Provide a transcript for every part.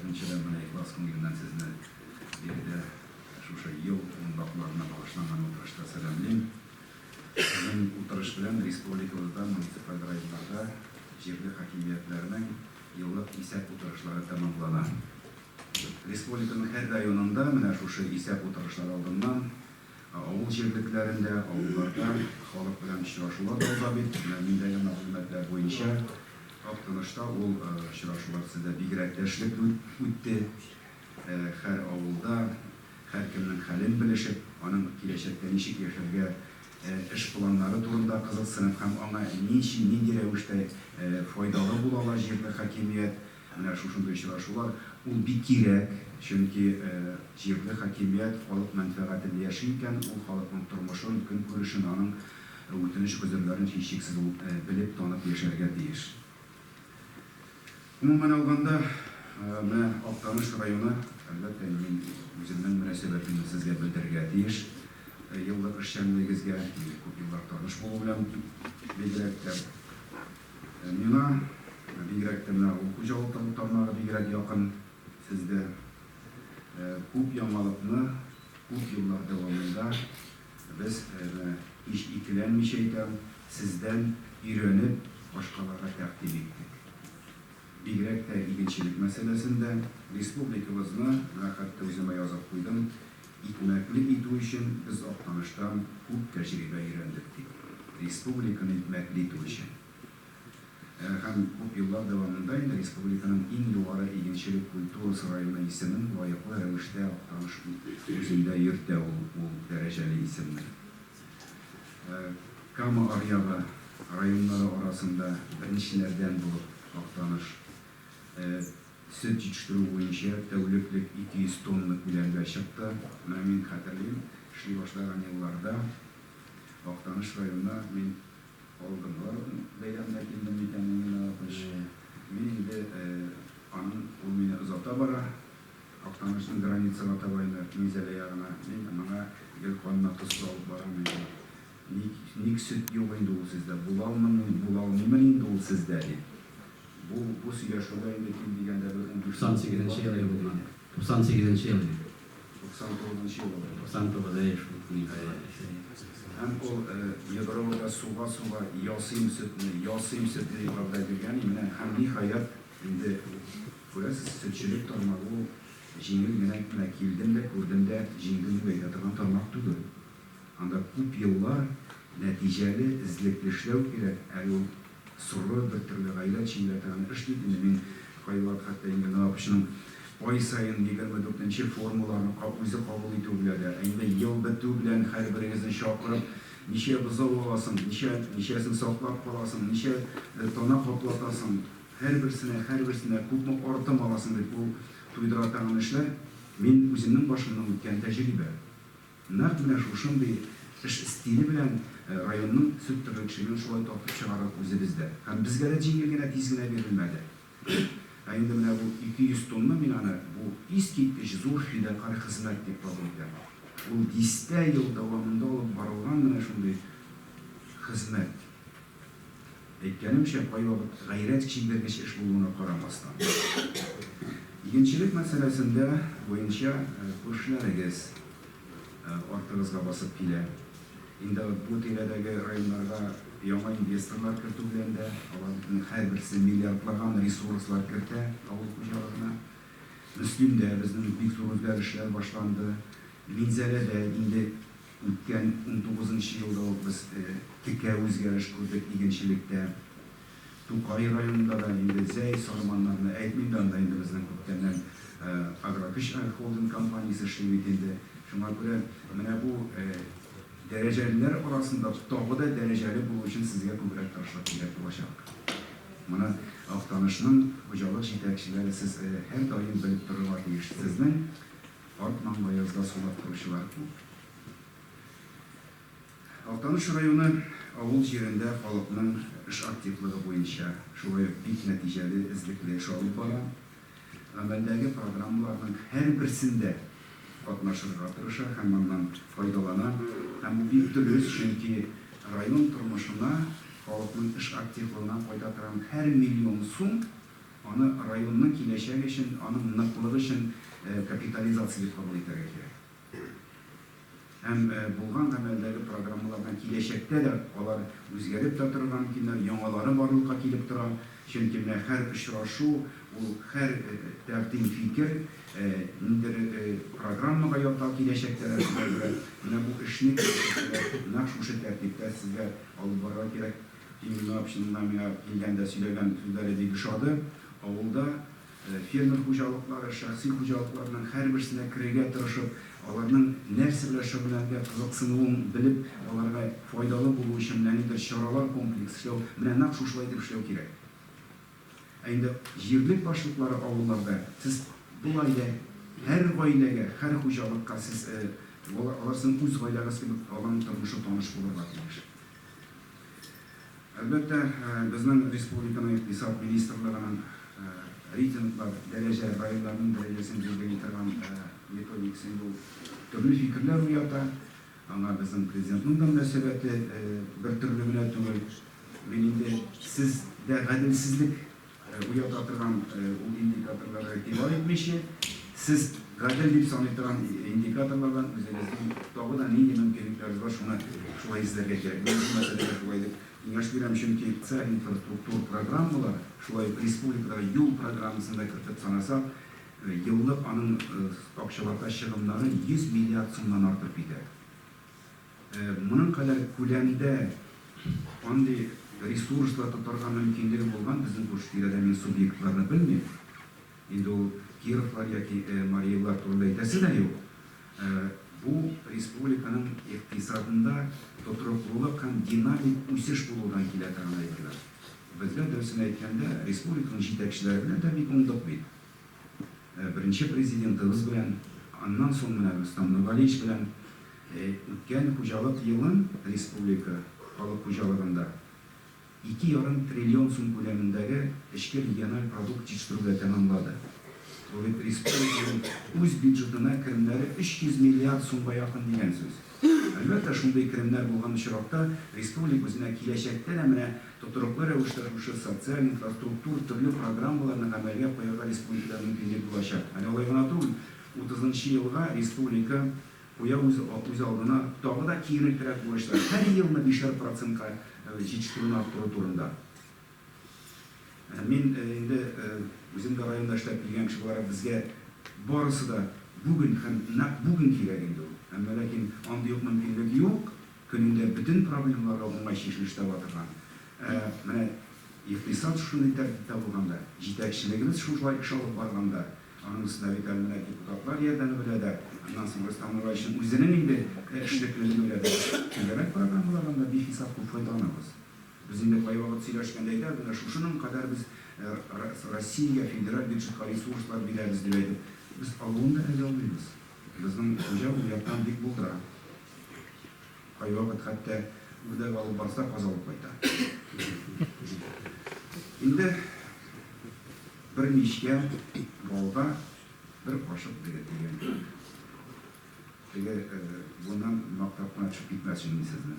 Беренчедән, менә ихлас күңеленнән сезне биредә шушы ел йомгакларына багышланган утырышта сәламлим. Сезнең утырыш белән республикабызда муниципаль районнарда җирле хакимиятләрнең еллык исәп утырышлары тәмамлана. Республиканың һәр районында менә шушы исәп утырышлары алдыннан Ә авыл җирлекләрендә, авылларда халык белән очрашулар да уза бит. Менә миндәге мәгълүматлар буенча, Актанышта ул очрашулар төзелә, бигрәк тә эшлекле үтте. Һәр авылда һәркемнең хәлен белешеп, аның киләчәктә ничек яшәргә, эш планнары турында кызыксынып һәм аңа ничи, нинди рәвештә файдалы була ала җирле хакимият, Ә менә шушындый очрашулар, ул бик кирәк, чөнки җирле хакимият халык мәнфәгатен яши икән, ул халыкның тормышын, көнкүрешен, аның үтенеч-гозерләрен һичшиксез белеп, танып яшәргә тиеш. Гомумән алганда, менә Актаныш районы, әлбәттә, мин үземнең мөнәсәбәтемне сезгә белдерергә тиеш еллык эшчәнлегегезгә, минем күп еллар таныш булу белән бигрәк тә. Миңа, бигрәк тә менә ул хуҗалык тармагы бигрәк якын. Сездә күп яңалыкны күп еллар дәвамында без, һич икеләнмичә әйтәм, сездән өйрәнеп, башкаларга тәкъдим иттек. Бигрәк тә игенчелек мәсьәләсендә республикабызны, менә хәтта үзем язып куйдым, Икмәкле итү өчен без Актаныштан күп тәҗрибә өйрәндек, ди. Республиканы икмәкле итү өчен һәм күп еллар дәвамында инде республиканың иң югары игенчелек культурасы районы исемен лаеклы рәвештә Актаныш үзендә йөртә ул ул дәрәҗәле исемне. Кама Аръягы районнары арасында беренчеләрдән булып Актаныш Сөт җитештерү буенча тәүлеклек 200 тонна күләмгә чыкты. Менә мин хәтерлим, эшли башлаган елларда Актаныш районына мин алдынгы бәйрәмдә килдем микәнни генә алтмыш. Мин инде аның, ул мине озата бара, Актанышның границага таба инде, Минзәлә ягына. Мин моңа гел канына тоз салып барам инде. Ник, ник сөт юк инде ул сездә? Була алмыймы, була алмыймын инде ул сездә, дип. Бу бу сөйләшүдә инде ким дигәндә бер унбиш минут. 98 нче ел иде бу гына. 98 нче ел иде. 99 нчы ел алай. 99, әйе шул. Һәм ул Егоровода суга суга ясыйм сөтне, ясыйм сөтне дип вәгъдә биргән и менә һәм ниһаять инде күрәсез сөтчелек тармагы ул җиңел генә килдем дә күрдем дә җиңдем дип әйтә торган тармак түгел. Анда күп еллар нәтиҗәле, эзлекле эшләү кирәк. Әле ул соры, бер төрле гаилә эчендә торган эш бит инде. Мин кайвакыт хәтта инде менә АКШның ай саен егерме дүртенче форумларны үзе кабул итүе белән дә, ә инде ел бетү белән һәрберегезне чакырып, ничә бозау аласың, ничә, ничәсен саклап каласың, ничә тана каплатасың, һәрберсенә, һәрберсенә күпме артым аласың дип, ул туйдыра торган эшләр, мин үземнең башымнан үткән тәҗрибә. Нәкъ менә шушындый эш стиле белән районның сөт терлекчелеген шулай тартып чыгардык үзебез дә. Һәм безгә дә җиңел генә, тиз генә бирелмәде. Ә инде менә бу 200 тонна мин аны бу искиткеч зур фидакарь хезмәт дип кабул итәм. Ул дистә ел дәвамында алып барылган менә шундый хезмәт. Әйткәнемчә, кайвакыт гайрәт чигергеч эш булуына карамастан, игенчелек мәсьәләсендә буенча күршеләрегез артыгызга басып килә. Инде бу тирәдәге районнарга яңа инвесторлар кертү белән дә, аларның һәрберсе миллиардлаган ресурслар кертә авыл хуҗалыгына. Мөслимдә безнең бик зур үзгәрешләр башланды. Минзәләдә инде. Үткән унтугызынчы елда ук без текә үзгәреш күрдек игенчелектә. Тукай районында да инде зәй, сарманнарны әйтмим дә, анда инде безнең күптәннән Агрокөч агрохолдинг компаниясе эшли бит инде. Шуңа күрә менә бу дәрәҗәлеләр арасында тагы да дәрәҗәле булу өчен сезгә күбрәк тырышлык кирәк булачак. Моны Актанышның хуҗалык җитәкчеләре, сез һәрдаим белеп торырга тиеш. Сезнең Карт маңлы язда сулап торучылар күп. Актаныш районы авыл җирендә халыкның эш активлыгы буенча шулай ук бик нәтиҗәле, эзлекле эш алып бара. Гамәлдәге программаларның һәрберсендә катнашырга тырыша һәм аннан файдалана. Һәм бу бик дөрес, чөнки район тормышына, халыкның эш активлыгына кайта торган һәр миллион сум, Аны районның киләчәге өчен, аның ныклыгы өчен капитализация дип кабул итәргә кирәк. Һәм булган гамәлдәге программалардан киләчәктә дә алар үзгәреп тә торырга мөмкиннәр, яңалары барлыкка килеп тора. Чөнки менә һәр очрашу, ул һәр тәкъдим, фикер ниндидер программага ята, киләчәктә дә шуңа күрә менә бу эшне киләчәктә дә нәкъ шушы тәртиптә сезгә алып барырга кирәк. Инна Апшинина миңа килгәндә сөйләгән сүзләре бик ошады. Авылда фермер хуҗалыклары, шәхси хуҗалыкларның һәрберсенә керергә тырышып, аларның нәрсә белән шөгыльләнергә кызыксынуын белеп, аларга файдалы булу өчен нәнидер чаралар комплекс эшләү, менә нәкъ шушылай итеп эшләү кирәк. Ә инде җирлек башлыклары авылларда сез болай да һәр гаиләгә, һәр хуҗалыкка сез алар сезнең үз гаиләгез кебек аларның тормышы таныш булырга тиеш. Әлбәттә, безнең республиканың икътисад министрлыгының рейтинглар, дәрәҗә, районнарның дәрәҗәсен билгели торган методикасын бу төрле фикерләр уята. Аңа безнең Президентның да мөнәсәбәте бертөрле генә түгел. Мин инде, Сез дә гаделсезлек Уята торган ул индикаторларга игътибар итмичә, сез гадел дип саный торган индикаторлардан үзегезнең тагы да нинди мөмкинлекләрегез бар, шуны шулай эзләргә кирәк. Мин бу мәсьәләгә шулай дип киңәш бирәм, чөнки социаль инфраструктура программалары, шулай ук республикадагы юл программасын да кертеп санасак, еллык аның акчалата чыгымнары 100 миллиард сумнан артып китә. Моның кадәр күләмдә андый ресурслар тотарга мөмкинлеге булган безнең күрше-тирәдә, мин субъектларны белмим, инде ул Кировлар яки Мари Эллар турында әйтәсе дә юк, бу республиканың икътисадында тотрыклылык һәм динамик үсеш булудан килә тагын әйберләр. Бездә, дөресен әйткәндә, республиканың җитәкчеләре белән дә бик уңдык бит. Беренче Президентыбыз белән, аннан соң менә Рөстәм Нургалиевич белән үткән хуҗалык елын республика халык хуҗалыгында ике ярым триллион сум күләмендәге эчке региональ продукт җитештерүгә тәмамлады. Бу бит республиканың үз бюджетына керемнәре 300 миллиард сумга якын дигән сүз. Әлбәттә, шундый керемнәр булган очракта республик үзенә киләчәктә дә менә тотрыклы рәвештә шушы социаль, инфраструктур, төрле программаларны гамәлгә куярга республикада мөмкинлек булачак. Әле алай гына түгел, утызынчы елга республика куя үз үз алдына тагы да киеренкерәк бурычлар, һәр елны бишәр процентка җитештерүне арттыру турында. Мин инде үзем дә районда эшләп килгән кеше буларак, безгә барысы да бүген һәм нәкъ бүген кирәк инде ул. Әмма ләкин андый ук мөмкинлек юк, көнендә бөтен проблемаларга уңай чишелеш таба торган. Ә менә икътисад шушындый тәртиптә булганда, җитәкчелегебез шушылай эш алып барганда, аның өстенә бит әле менә депутатлар ярдәме белән дә, аннан соң Рөстәм Нураевичның үзенең инде эшлеклелеге белән дә, түгәрәк программалардан да бихисап күп файдаланабыз. Без инде кайвакыт сөйләшкәндә әйтәбез, менә шушының кадәр без Россия федераль бюджетка ресурслар бирәбез дип әйтеп, без алуын да әзер алмыйбыз. Безнең хуҗа ул яктан бик булдыра. Кайвакыт хәтта үрдәк алып барса, каз алып кайта. Инде бер мичкә балга бер кашык бирә дигән. Теге, моннан мактап кына төшеп китмәсен мин сезне.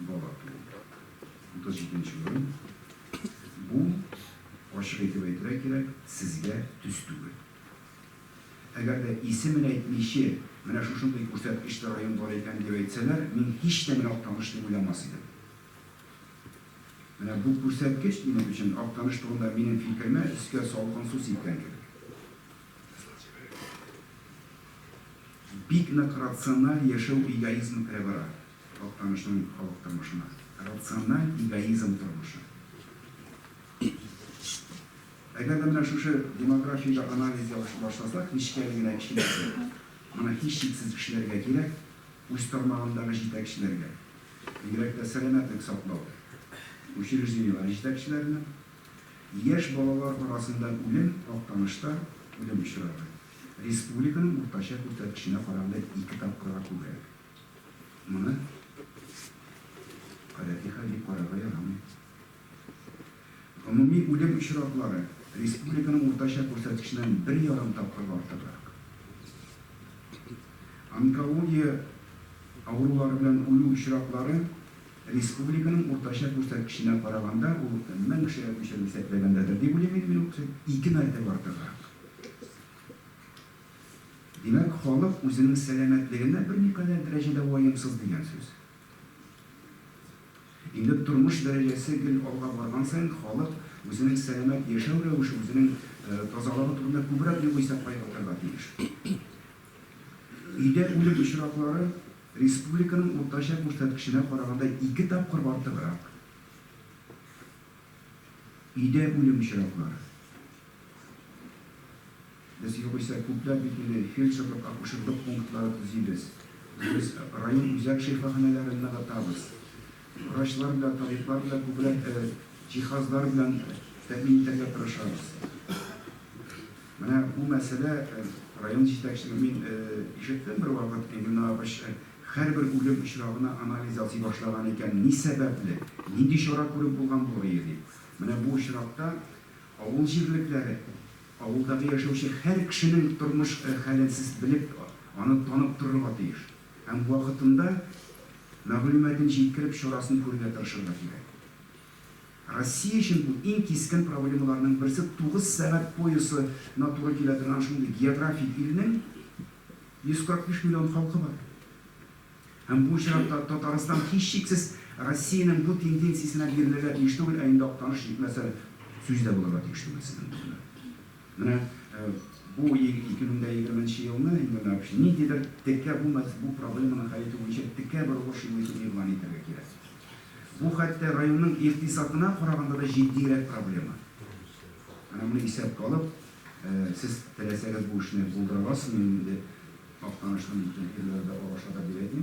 бала туу. 37 нче урын. Бу, ачык итеп әйтергә кирәк, сезгә төс түгел. Әгәр дә исемен әйтмиче, менә шушындый күрсәткечле район бар икән дип әйтсәләр, мин һич тә менә Актаныш дип уйламас идем. Менә бу күрсәткеч минем өчен Актаныш турында минем фикеремә өскә салкын су сипкән кебек. Бик нык рациональ яшәү эгоизмы керә бара. Актанышның халык тормышына рациональ эгоизм тормышы. Әгәр дә менә шушы демографиядә анализ ясый башласак, нечкә генә киченәсе, моны һичшиксез кешеләргә кирәк, үз тармагындагы җитәкчеләргә, бигрәк тә сәламәтлек саклау учреждениеләре җитәкчеләренә, яшь балалар арасында үлем Актанышта үлем очрагы республиканың уртача күрсәткеченә караганда ике тапкырга күбрәк. Моны гадәти хәл дип карарга ярамый. Гомуми үлем очраклары республиканың уртача күрсәткеченнән бер ярым тапкыр артыграк. Онкология авырулары белән үлү очраклары республиканың уртача күрсәткеченә караганда, ул 1000 кешегә күчереп исәпләгәндәдер, дип уйлыйм мин, ике мәртәбә артыграк. Димәк, халык үзенең сәламәтлегенә берникадәр дәрәҗәдә ваемсыз дигән сүз. Инде тормыш дәрәҗәсе гел алга барган саен, халык үзенең сәламәт яшәү рәвеше, үзенең тазалыгы турында күбрәк югыйсә кайгыртырга тиеш. Өйдә үлем очраклары республиканың уртача күрсәткеченә караганда ике тапкыр артыграк. Өйдә үлем очраклары. Без югыйсә күпләп бит инде фельдшерлык-акушерлык пунктлары төзибез. Дөрес, район үзәк шифаханәләрен ныгытабыз. Врачлар белән табиблар белән күбрәк җиһазлар белән тәэмин итәргә тырышабыз. Менә бу мәсьәлә район җитәкчелеге, мин ишеттем бервакыт, Энгель Нагапович һәрбер үлем очрагына анализ ясый башлаган икән, ни сәбәпле, нинди чара күреп булган булырые дип. Менә бу очракта авыл җирлекләре Авылдагы яшәүче һәр кешенең тормыш хәлен сез белеп, аны танып торырга тиеш һәм вакытында мәгълүматын җиткереп чарасын күрергә тырышырга кирәк. Россия өчен бу иң кискен проблемаларның берсе тугыз сәгать поясы на туры килә торган шундый географик илнең 145 миллион халкы бар. Һәм бу очракта Татарстан, һичшиксез, Россиянең бу тенденциясенә бирелергә тиеш түгел, ә инде Актаныш җитмәсә, сүз дә булырга тиеш түгел сезнең турында. Менә бу 2020 нче елны инде менә ниндидер текә бу бу проблеманы хәл итү буенча текә бер уңыш юлы итеп игълан итәргә кирәк. Бу хәтта районның икътисадына караганда да җитдиерәк проблема. Менә моны исәпкә алып, сез теләсәгез бу эшне булдыра аласызмы инде? Актаныштан киткән ирләр дә араша да бирә ди.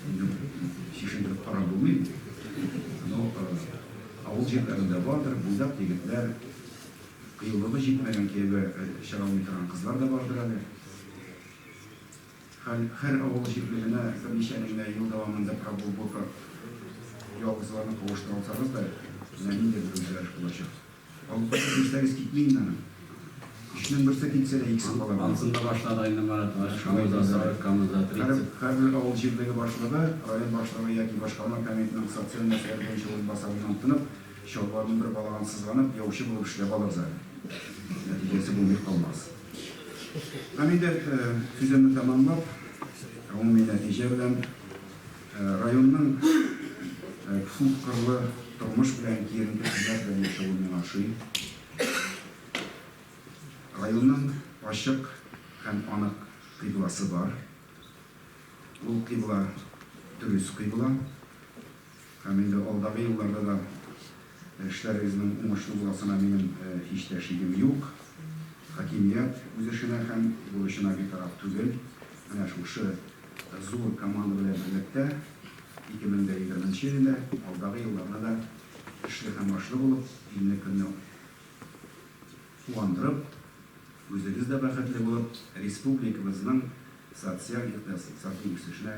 Инде чишендереп карап булмый. Но авыл җирләрендә бардыр, буйдак егетләр, кыюлыгы җитмәгән кияүгә чыга алмый торган кызлар да бардыр әле. Хәл, хәр авыл җирлегенә берничә генә ел дәвамында прогулбока ялгызларны кавыштырсагыз да, менә нинди гүзәлләр булачак. Алпай килмесәгез китмим дә. Өчнең берсе китсә дә икесе кала бит. Ансында башлады инде Марат врач, камызда 40, камызда 30. Һәрбер авыл җирлеге башлыгы, район башлыгы яки башкарма комитетның социаль мәсьәләләр буенча урынбасарыннан тынып, чалбарының бер балагын сызганып, яучы булып эшләп алыр да нәтиҗәсе булмый калмас. Һәм инде сүземне тәмамлап, гомуми нәтиҗә белән. Районның күпкырлы тормыш белән киеренке телләр белән яшәве миңа ошый. Районның ачык һәм анык кыйбласы бар. Ул кыйбла дөрес кыйбла һәм инде алдагы елларда да Эшләрегезнең уңышлы буласына минем һич тә шигем юк. Хакимият үз эшенә һәм бурычына битараф түгел. Менә шушы зур команда белән берлектә 2020 нче елны да, алдагы елларны да эшле һәм башлы булып, илне көнне куандырып, үзегез дә бәхетле булып, республикабызның социаль-икътисади үсешенә